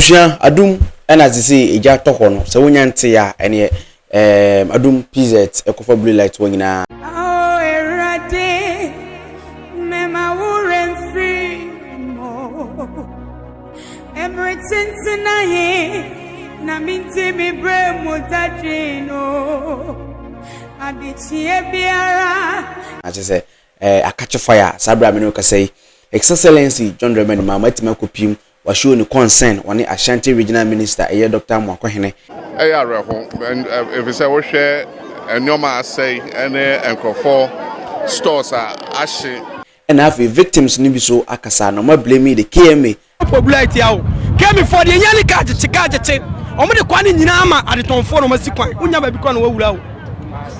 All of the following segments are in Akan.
Abusua adum ɛna adze sei egya tɔ hɔ no sɛ wonya ntsee a ɛneɛ ɛɛm adum pz ɛkɔfa blue light hɔ nyinaa. Oh Awurade, mɛma wo werɛ mfiri mo. Mmere tenten ahe na menti me brɛ mu dadwen o, adekyeɛ biara. Na kyerɛ sɛ ɛɛ akakye fire a saa bere a me ne wo kasa yi His Excellency John Dramani Mahama atumi akɔ piem Wɔahyɛ ne kɔnsɛn ɔne Ashanti Regional Minister ɛyɛ Dɔkta Amoakohene. Ɛyɛ awerɛho efisɛ wohwɛ nneɛma a asɛe ne nkurɔfoɔ stores a ahye. Ɛna afei victims no bi nso akasa na wɔn blame the KMA. Pobla atia wo. Kemi foɔ deɛ yɛnya ne car gyekye car gyekye. Wɔn de kwan no nyinaa ama adetɔnfoɔ na wɔn asi kwan. Wonya baabi kora na wɔawura wo.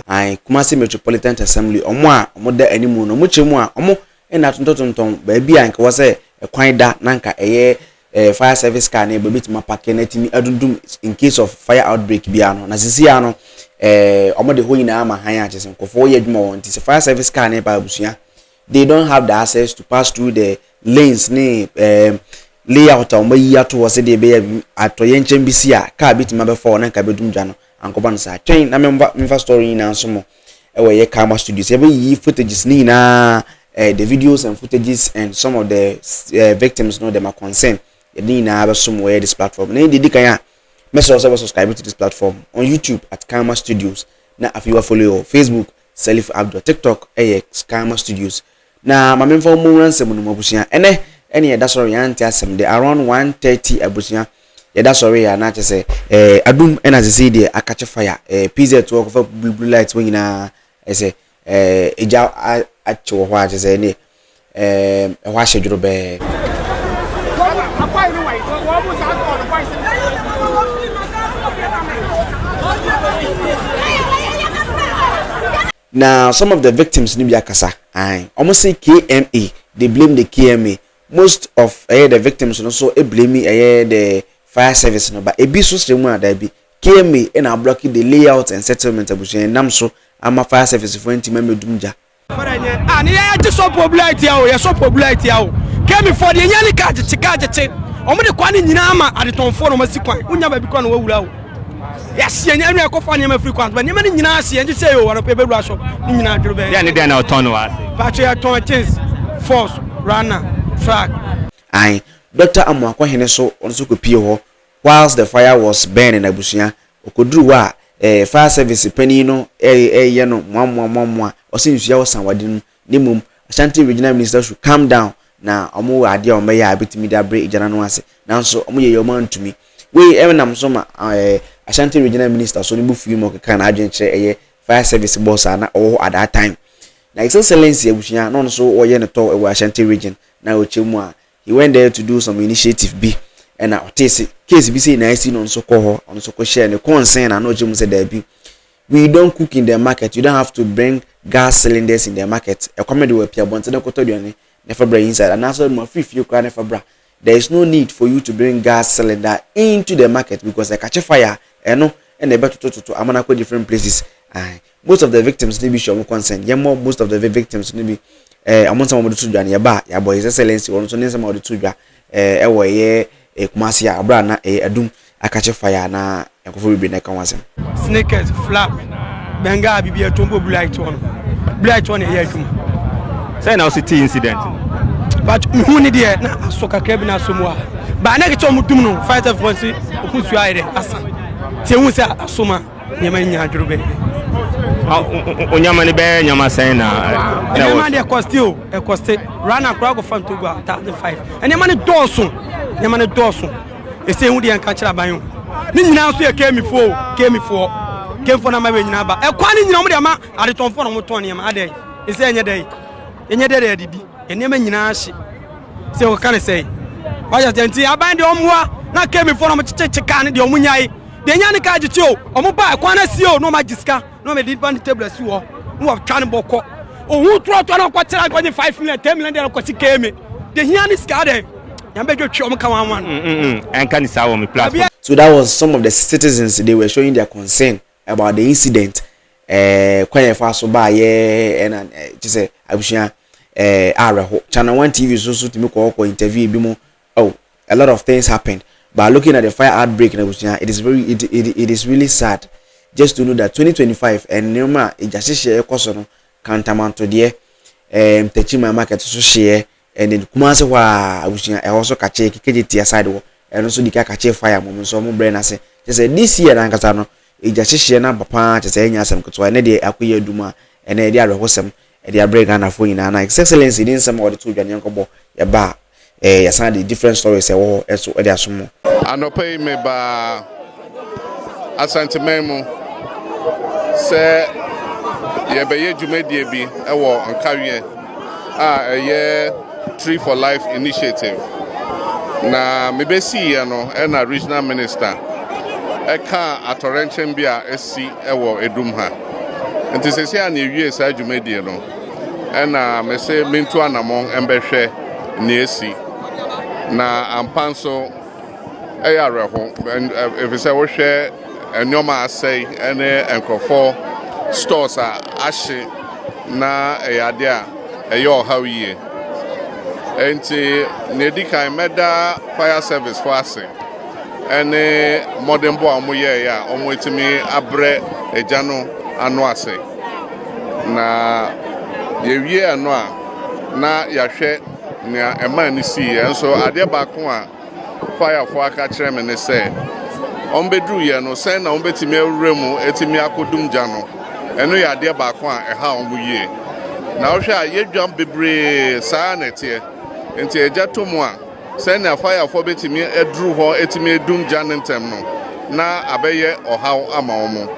Ae Kumasi Metropolitant Assembly wɔn a wɔn da anim no wɔn kyerɛ mu a wɔn nna tontɔtontɔn baabi a nka wɔ sɛ kwan da na nka ɛyɛ eh, fire service car ne bɛbɛtumi apake na atumi adudum in case of fire outbreak biara no na sisi a no eh, wɔn de hɔ nyinaa ama han a kyerɛ sɛ nkurɔfoɔ yɛ adwuma wɔn nti sɛ fire service car ne ba abusua they don't have the access to pass through the lanes ne eh, layout a wɔn ayi ato hɔ sɛdeɛ ɛbɛyɛ atɔyɛ nkyɛn bi si a car bɛtumi abɛfa wɔ na nka bɛdum dwa no ankɔba no saa twɛn na memfa story nyinaa nso mo ɛwɔ yɛ Karma Studios. Yɛbɛyiyi footages ne nyinaa, eh, the videos and footages and some of the eh, victims no, them are concerned. Yɛde nyinaa bɛsom wɔ yɛ this platform. Na yɛde di kan a, mɛsrɛ sɛ subscribe to this platform on YouTube at Karma Studios. Na afei wa follow Facebook, Salif Abdul. TikTok ɛyɛ Karma Studios. Na ma memfa wo mmɔ nwura nsɛm no mu, abusua. Ɛnnɛ, ɛne yɛda sɔre yi, yɛante asɛm de around one thirty, abusua. Yɛda sɔre a, na kyerɛ sɛ, eh, adum, ɛna sesei deɛ akakye fire, eh, PZ to hɔ kɔfa blue blue lights hɔ nyinaa, ɛyɛ sɛ, eh, egya a, akye wɔ hɔ a, kyerɛ sɛ ɛneɛ, eh, ɛhɔ ahyɛ dworobɛɛ. Na some of the victims no bi akasa ae ɔmo se KMA they blame the KMA most of ɛyɛ the victims no so blame ɛyɛ the fire service no ba ebi so srɛ mu a daabi KMA na ablock the layout and settlement abusua yɛn nam so ama fire service foɔ antimi amedum gya Fɛrɛ nyɛ a ne yɛ yɛ gye sɔ pɔbula atia o yɛ sɔ pɔbula atia o KMA foɔ deɛ yɛn ne kaa gyekye kaa gyekye ɔmo de kwan no nyinaa ama adetɔnfoɔ na ɔmo asi kwan wonya baabi kɔ a na wawura o. yɛaseɛ nyɛ ɛno ɛkɔfa nneɛma firi kwan so ba nneɛma no nyinaa aseɛ nti sɛ yɛwɔ anɔpɛ yɛbɛwura shop ne nyinaa adworo bɛn deɛ ne deɛ na ɔtɔn no wɔ ase paatwo yɛtɔn tins force runner track. Ae, Doctor Amoah kɔ hene so ɔno nso kɔ pie hɔ whilst the fire was burning abusua, ɔkɔduru hɔ a eh fire service panin no eh eh yɛ no moamoa moamoa ɔse nsuo awo sanwade no mu, na mmom Ashanti Regional Minister should come down na wɔn wɔ adeɛ a wɔn bɛyɛ a ɛbɛtumi de abrɛ agyanan no ase nanso wɔn yɛ yɛ wɔn antumi wei ɛnam so ma ɛɛ eh, Ashanti Regional Minister so ne bu fui ma ɔkeka n'adwene kyerɛ ɛyɛ fire service boss a na ɔwɔ hɔ at that time na His Excellency abusua na ɔno nso wɔyɛ ne tɔ ɛwɔ Ashanti Region na ɔkyɛ mu a He went there to do some initiative bi ɛna ɔtee se case bi sei na asi no nso kɔ hɔ ɔno nso kɔ hyɛɛ ne kɔnsen na na ɔkyerɛ mu sɛ daabi we don't cook in the market you don't have to bring gas cylinders in the market ɛkɔm de wɔ apia bɔnten na kɔtɔ aduane na ɛfa bra inside anaasɛ ma firi fie koraa na ɛfa bra there is no need for you to bring gas cylinder into the market because ɛkakye fire ɛno ɛna ɛbɛtotototo ama no akɔ different places ahan most of the victims no bi hyɛ wɔn consent yɛmmɔ most of the victims no bi ɛɛ wɔn nsɛm a wɔde to dwa no yɛba a yɛabɔ his excellence wɔn nso ne nsɛm a wɔde to dwa ɛɛ ɛwɔ ɛyɛ kumase a abira na ɛyɛ adum akakye fire na nkurɔfoɔ bebree na ɛka ho asɛm. sneakers flap bɛnga bibi ɛtɔn bɔ blu aitɔ no blu aitɔ na ɛyɛ adwuma. sɛn na ɔsi ti incident. but mihu ni deɛ na aso kakra bi na aso mu a baa na kete ɔmo dum no fire service wɔn si okun su ayɛ dɛ asa tiɛ hu sɛ aso ma. Nyama nya adworo bɛn? Onyama ne bɛyɛ nyama sɛn na Nyama deɛ kɔste o, ɛkɔste. Rana koraa kɔfa ntogo a thousand five. Nneɛma no dɔɔso, nneɛma no dɔɔso. Ɛsɛ ehu deɛ nka kyerɛ aban o. Ne nyinaa nso yɛ kemifoɔ o, kemifoɔ. Kemifoɔ na ama bɛ nyinaa ba. Ɛkwan ne nyinaa wɔn de ama adetɔnfoɔ na wɔn tɔn nneɛma adɛn. Ɛsɛ ɛnyɛ dɛ, ɛnyɛ dɛ dɛ adidi. Nneɛma nyinaa hye. Sɛ wɔka ne sɛ, wɔyɛ sɛ nti aban deɛ wɔn mmoa na kemifoɔ na wɔn kyekyekye kaa no deɛ wɔn nyae. Deɛ nya ne kaa gyekye o. Ɔmo baa ɛkwan no asie o na ɔmo agye sika na ɔmo de ba ne table asi hɔ na watwa ne bɔ kɔ. Ohun trɔtrɔ na ɔkɔ kyerɛ nkɔgye five million ten million deɛ no kɔsi kaa mi. Deɛ hia ne sika adɛn. Nyame bɛ dwotwe ɔmo ka one one. Mm mm mm ɛnka ne saa wɔ me platform. So that was some of the citizens they were showing their concern about the incident eh kwan a yɛfaa so baayɛ ɛna eh kyesɛ abusua eh awerɛho. Channel one TV so nso tumi kɔɔ kɔ interview ebinom Oh, a lot of things happened but looking at the fire outbreak n'abusua, it is very it it it is really sad just to know that twenty twenty five and nneɛma a egya hyehyeɛ ɛkɔ so no kantamantodeɛ ɛɛ Mtakyiman market so hyeɛ and then Kumasi hɔ a abusua ɛhɔ so kakyee kekegye tia side wɔ ɛno nso dika kakyee fire mom nso wɔn brɛ n'ase kyɛ sɛ this year n'ankasa no egya hyehyeɛ no aba paa kyɛ sɛ ɛnyɛ asɛm ketewa ɛnɛ deɛ akɔ yɛ adum a ɛnɛ ɛde awerɛhosɛm de abrɛ Ghanafoɔ nyinaa na His Excellency ne nsɛm a ɔde too dwa no yɛnkɔbɔ yɛn ba a eh, yɛasan de different stories a ɛwɔ hɔ nso de asom mo. Anɔpa yi mebaa Asanteman mu sɛ yɛbɛyɛ dwumadie bi wɔ Nkaweɛ a ɛyɛ. Tree for Life Initiative na mebesiiɛ no ɛna Regional Minister ɛkaa atɔrɛnkyɛm bi a asi ɛwɔ Adum ha. Nti sɛsɛ a na ewie saa dwumadie no ɛna mese mentu anamɔn ɛmbɛhwɛ nea asi na ampa nso Ɛyɛ awerɛho efisɛ wohwɛ nneɛma a asɛe ne nkurɔfo stores a ahye na ɛyɛ ade a ɛyɛ ɔhaw yie. Enti nea edi kan mɛda fire service fo ase ne mmɔdenbɔ a wɔyɛe a wɔatumi abrɛ gya no ano ase. Na yɛwie ɛno a na yɛahwɛ nea ɛmaa no sii. Nanso adeɛ baako a Fayafoɔ aka kyerɛ me ne sɛ, wɔbɛduruiɛ no, sɛn na wɔbɛtumi awura mu atumi akɔdum gya no. Ɛno yɛ adeɛ baako a ɛha wɔn yie. Na wohwɛ a, yɛdwa bebree saa ara na ɛteɛ. Enti ɛgya tɔ mu a, sɛnea Fayafoɔ bɛtumi aduru hɔ atumi adum gya no ntɛm no, na abɛyɛ ɔhaw ama wɔn.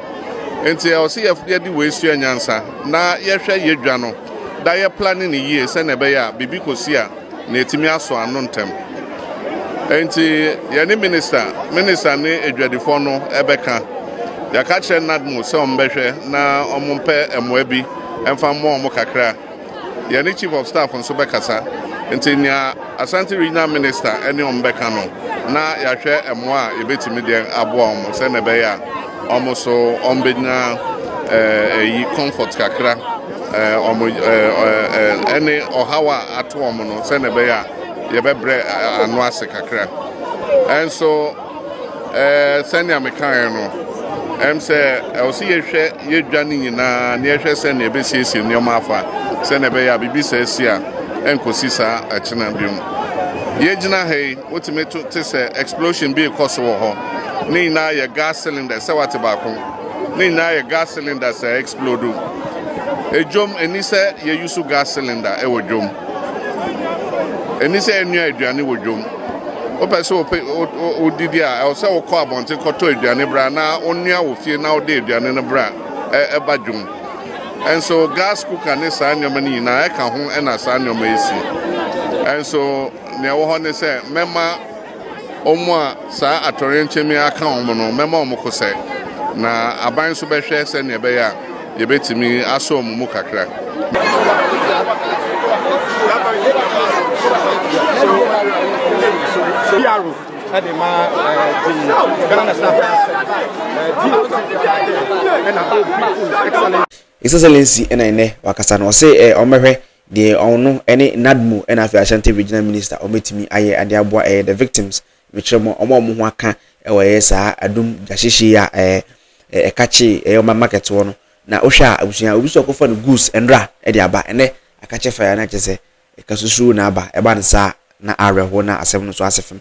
Enti ɛwɔ sɛ yɛde wei sua nyansa na yɛhwɛ yɛdwa no. da yɛplane no yie sɛnea ɛbɛyɛ a biribi kɔsi a na yɛtumi aso ano ntɛm. Enti yɛne minista, minista ne adwadifoɔ no bɛka. Yɛaka kyerɛ NADMO sɛ wɔn bɛhwɛ na wɔn mpɛ mmoa bi mfa mmɔ wɔn kakra. Yɛne chief of staff nso bɛkasa. Nti nea Asante regional minister ne wɔn bɛka no na yɛahwɛ mmoa a yɛbɛtumi deɛ aboa wɔn sɛnea ɛbɛyɛ a wɔn nso wɔbɛnya eh, ayi comfort kakra eh, wɔn eh, eh, ɛne ɔhaw a ato wɔn no sɛnea ɛbɛyɛ a yɛbɛbrɛ ano ase kakra ɛnso eh, sɛnea mekaeɛ no ɛm sɛ ɛwɔ sɛ yɛhwɛ yɛdwa no nyinaa na yɛhwɛ sɛnea ɛbɛsiesie nneɛma afa sɛnea ɛbɛyɛ a biribi saa si a ɛnkɔsi saa akyena bio yɛgyina ha yi Wotumi to te sɛ explosion bi rekɔ so wɔ hɔ. Ne nyinaa yɛ gas cylinder sɛ wate baako. Ne nyinaa yɛ gas cylinder sɛ explodu. Edwom ɛni sɛ yɛ yusu gas cylinder ɛwɔ dwom. Ɛni sɛ yɛ nua aduane wɔ dwom. Wopɛ sɛ ope o didi a ɛwɔ sɛ wokɔ abɔnten kɔtɔ aduane bra na onua wɔ fie na wode aduane no bra ɛ ɛba dwom. Ɛnso gas cooker ne saa nneɛma no nyinaa ɛka ho ɛna saa nneɛma yi si. Ɛnso. Nea ɛwɔ hɔ ne sɛ, mɛma wɔn a saa atoyerɛnkyɛm yi aka wɔn no, mɛma wɔn kosɛ, na aban nso bɛhwɛ sɛnea ɛbɛyɛ a yebetumi asɔ wɔn mu kakra. de ma di Ghana sa di ɛna ɛsɛ sɛ lensi ɛna ɛnɛ wakasa no ɔse ɔmmɛhwɛ Deɛ ɔno ne NADMO ɛna afei Ashanti Regional Minister ɔmo atumi ayɛ ade aboa ɛyɛ the victims mekyerɛ mo ɔmo a ɔmo ho aka ɛwɔ ɛyɛ saa adum gyahyehye yi a ɛɛ ɛka kyee ɛyɛ ɔma market wɔ no na wohwɛ a abusua obi so ɔkɔfa no goods ɛnra ɛde aba ɛnɛ akakye fire na kyɛ sɛ ɛka susuru na aba ɛba no saa na awerɛhow na asɛm no so ase fam.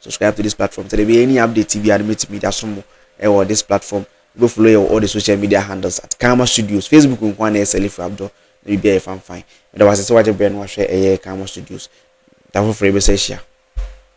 Subscribe to this platform sɛdeɛ ɛbɛyɛ any update biara no mɛtumi de asom mo ɛwɔ this platform. Wobɛfollow yɛ wɔ all the social media handles at Kaama Studios. Facebook nko ara na ɛyɛ Salifu Abdul na biribiara yɛ fanfan. Meda wo ase sɛ woagye berɛ na woahwɛ ɛyɛ Kaama Studios. Da foforɔ yɛbɛsan ahyia.